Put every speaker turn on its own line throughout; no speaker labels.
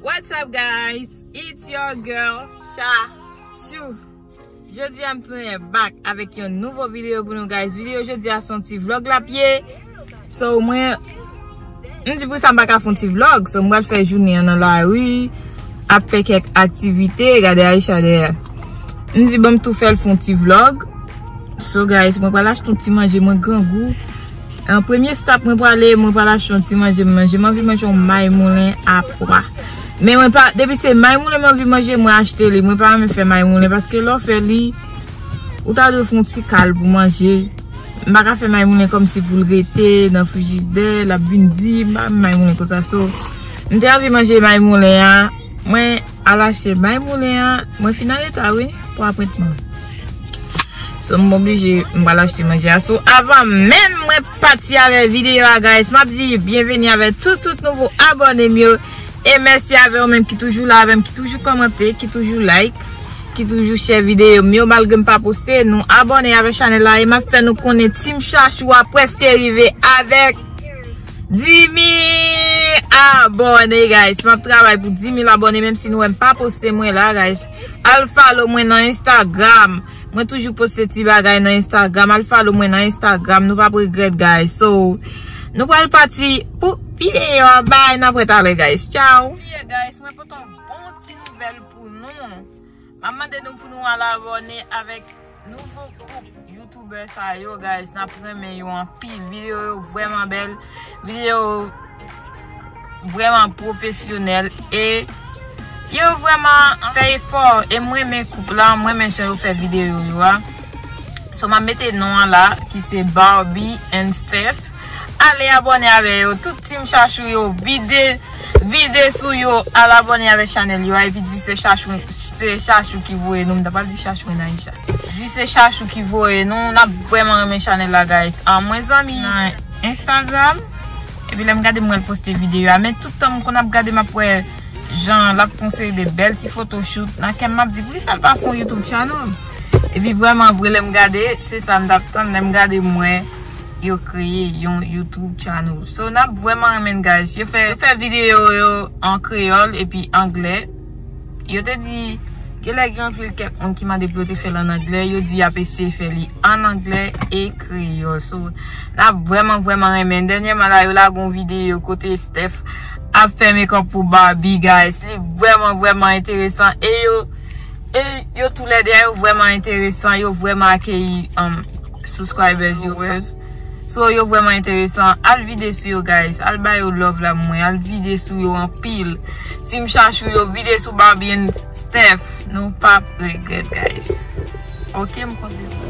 What's up guys it's your girl Shashou Jodi a m tounen back avèk yon nouvo video pou nou guys Video jodi a son ti vlog lap ye So mwen M di pou sa m baka fon ti vlog So m bal fè jounen an nan la ri Ap fè kèk aktivite Gade Aisha dèyè M di banm tou fèl fon ti vlog So guys mwen bal achte yon ti manje mwen grangou An premye stop mwen prale, mwen pral achte yon ti manje m manje. M anvi manje yon may moulen a pwa. Men mwen pa, depi se may moulen m anvi manje, mwen achte li. Mwen pa renmen fè may moulen paske lè w fè li, ou ta dwe fè yon ti kal pou manje. M pa ka fè may moulen kòm si pou l rete nan frijidè, l ap vin di. M pa renmen may moulen konsa. So, m te anvi manje may moulen an. Mwen. Alache bay moulen an. Mwen fin an reta wi pou apretman. So m oblije m pral achte manje a sou. Avan menm mwen pati avè videyo a guys. Map di byenveni avè tout tout nouvo abone m yo. E mèsi avè ou menm ki toujou la avèm. Ki toujou komante. Ki toujou like. Ki toujou share videyo m yo. Malgre m pa poste. Nou abone avè chanèl la. E map fè nou konnen team chachou a preske rive avèk. Dimi abone guys map travay pou 10000 abone menm si nou wèm pa poste mwen la guys al follow mwen nan instagram mwen toujou poste ti bagay nan instagram al follow mwen nan instagram nou pap regret guys so nou pral pati pou video a bye nan prèt ale guys chow. Mwen pote yon bon ti nouvel pou nou. Map mande nou pou nou al abone avek nouvo koup youtuber sa yo guys nap renmen yo anpil video yo vreman bel video yo vreman profesyonel e yo vreman fe efo e m renmen koup la m renmen jan yo fe video yo a so map mete non an la ki se Barbie and Steph. Ale abone avè yo tout team chachou yo vide vide sou yo al abone avè chanel yo a epi di se chachou se chachou ki voye nou m ta pral di chachou and aisha di se chachou ki voye nou nap vreman renmen chanel la guys mwen zanmi nan instagram epi lèm gade m wèl poste video a men tout tan m konn ap gade map wè jan lap fon seri de bèl ti foto shoot nan kèm map di poukisa l pa fon youtube channel epi vreman vre lèm gade se sa m tap tann lèm gade m wè yo kreye yon YouTube channel. So nap vreman renmenn guys. Yo fè yo fè video yo an kreyol epi anglè. Yo te di genlè gen anpil kèk moun ki mande pou yo te fèl an anglè. Yo di yap eseye fè li an anglè e kreyol. So nap vreman vreman renmenn. Dènyèman la yo lage yon video kote Steph ap fè makeup pou Barbie guys. Li vreman vreman enteresan. E yo e yo tou lè de a yo vreman enteresan. Yo vreman akeyi. Subscribers yo first So yo vreman enteresan Al vide sou yo guys Al ba yo love la mwen Al vide sou yo anpil Team chachou yo vide sou Barbie and Steph Nou pap regret guys Ok m konte sa.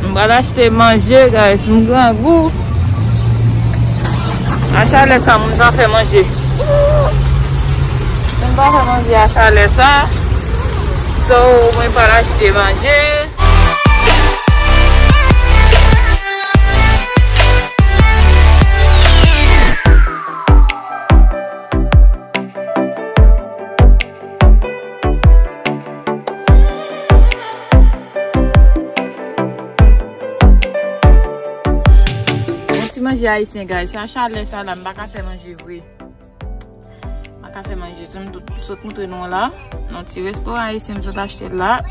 M pral achte manje guys m grangou a chalè sa moun pa fè manje moun pa fè manje a chalè sa so mwen pral achte manje Manje ayisyen guys, sa chalè sa la m baka fè manje vre M baka fè manje, sou m sot moutre nou la Non ti resto ayisyen m sot achte la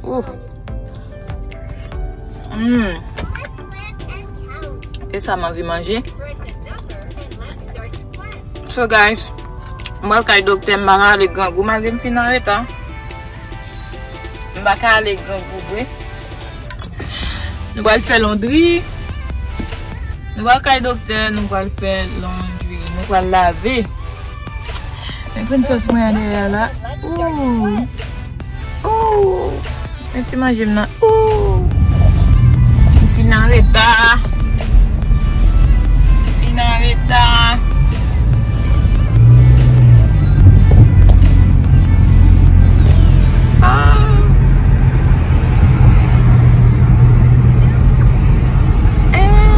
Ouf Mmm E sa m anvi manje So guys, m al kay doktè m pa ale grangou malgre m fin anreta. M pa ka ale grangou vre. Nou pral fè londri. Nou pral kay doktè, nou pral fè londri. Nou pral lave. Mwen pran sòs mwen an dèyè la. Ooh! Ooh! Men ti manjem nan ooh M fin an reta M fin an reta Aah Aah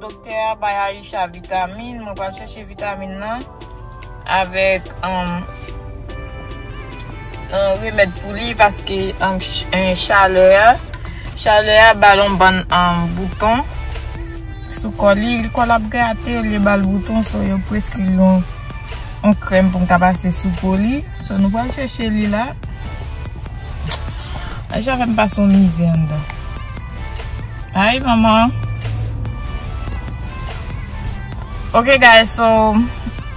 Doktè a bay Aïcha vitamin, mwen pral chèche vitamin nan avèk remèd pou li paske chalè a, chalè a bal yon bann bouton sou kò li, li kò l ap grate, li bal bouton so yo preskri l yon krèm pou m ta pase sou po li, so nou pral chèche li la. Aïcha fè m pase yon mizè anndan. Hi maman. Ok guys so.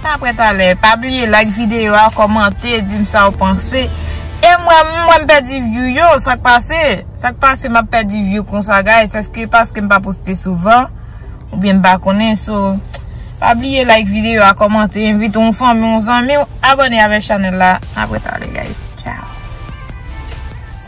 Ta prè talè. Pa bliye like video a. Komante. Dim sa ou panse. E mwen mwen pè di view yo. Sak pase. Sak pase mwen pè di view konsa guys. Eske paske mwen pa poste souvan. Ou byen mwen pa konen so. Pa bliye like video a. Komante. Envite ou fan mwen ou zan mwen. Abone avè chanel la. Ta prè talè guys. Ciao.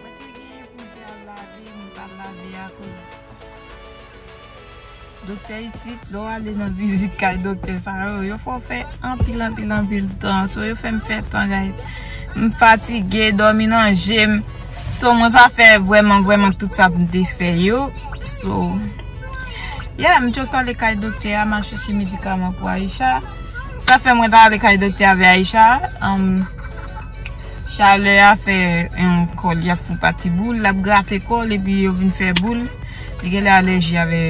Mwen te genyen pwoje al lave men pa lave akoz doktè isit lè w ale nan vizit kay doktè sa yo yo fè w fè anpil anpil anpil tan so yo fè m fè tan guys m fatige dòmi nan je m so mwen pa fè vrèman vrèman tout sa pou m te fè yo so yeah m just ale kay doktè a m al chèche medikaman pou Aïcha sa fè mwen ta ale kay doktè a avè Aïcha humm. Chalè a fè yon kòl li ap fon pati boul lap grate kòl epi yo vin fè boul li genlè alèji avè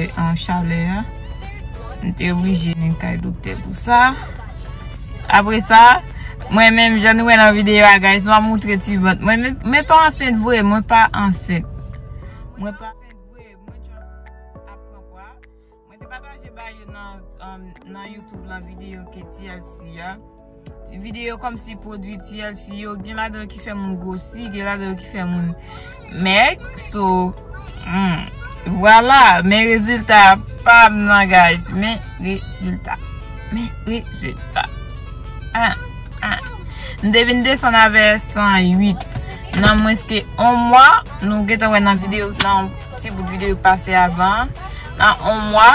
chalè a m te oblije vin kay doktè pou sa apre sa mwen menm jan nou wè nan videyo a guys map moutre ti vant mwen mwen pa ansent vre mwen pa ansent mwen pa ansent vre mwen just ap pran pwa. Mwen te pataje ba yo nan youtube lan video ke TLC ya. Ti video kom si pwodwi TLC yo gen la dan ki fè moun gosi, gen la dan ki fè moun mèk. So, vwala, hmm, men rezilta pam nan guys. Men rezilta. Men rezilta. Ah, ah. M te vin desan avè 108. Nan mwen ske 1 mwa, nou gen te wè nan video lan. Ti bout video ki pase avan an. Nan on mwa,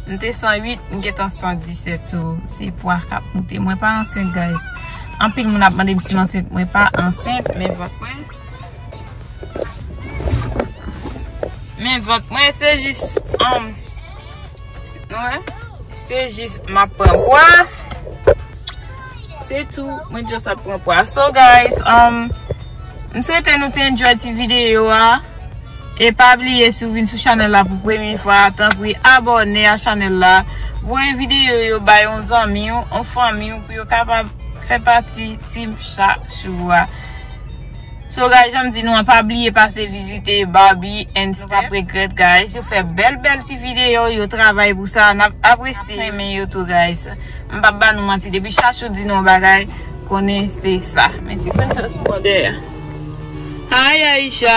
m te 108, m gentan 117. So, se pwa k ap moute. Mwen pa ansent guys. Anpil moun ap mande m si m ansent. Mwen pa ansent, men vant mwen. Men vant mwen, se jis. Nou wè? Se jis m ap pran pwa. Se tou mwen just ap pran pwa. So guys umm M swete nou te enjoy ti videyo a E pa bliye si w vin sou chanèl la pou premye fwa tanpri abòne a chanèl la Voye videyo yo bay yon zanmi w yon fanmi w pou yo kapab fè pati team Shashoua. So guys janm di nou an pa bliye pase vizite Barbie and Step nou pap regrèt guys yo fè bèl bèl ti video yo travay pou sa nap apresye nap renmen yo tou guys m pap ba nou manti depi Chachou di nou yon bagay konnen se sa men ti prensès m pran dèyè hi Aïcha.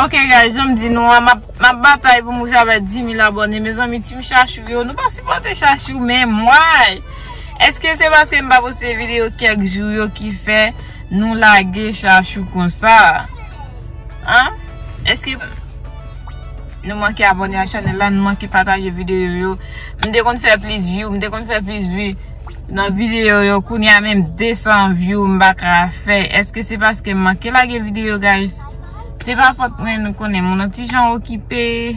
Ok guys janm di nou an map batay pou m rive avè 10000 abòne mezanmi team chachou yo nou pa sipòte chachou menm why eske se paske m pa poste video kèk jou yo ki fè nou lage chachou konsa an eske nou manke abòne ak chanèl la nou manke pataje video yo m te konn fè plis view m te konn fè plis vue. Nan video yo kounye a menm 200 view m paka fè eske se paske m manke lage video guys se pa fòt mwen nou konnen moun an ti jan okipe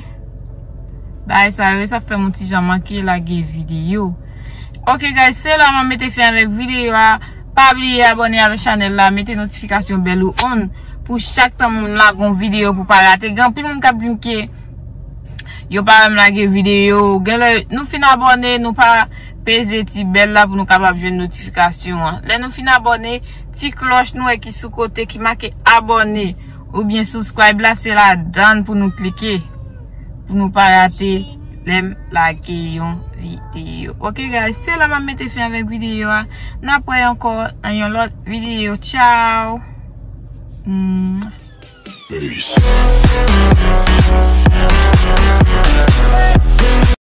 bagay sa yo sa fè m yon ti jan manke lage video ok guys se la mwen mete fen avèk video a pa bliye abòne avèk chanèl la mete notifikasyon bèl ou on pou chak tan moun lage yon video pou pa rate gen anpil moun kap di m ke yo pa wè m lage video genlè nou fin abòne nou pa Peze ti bèl la pou nou kapab jwenn notifikasyon an. Lè nou fin abòne, ti klòch nou wè ki sou kote ki make abòne oubyen subscribe la se ladann pou nou klike pou nou pa rate lè m lage yon videyo. Ok guys, se la map mete fen avèk videyo a. Nap wè ankò nan yon lòt videyo. Ciao!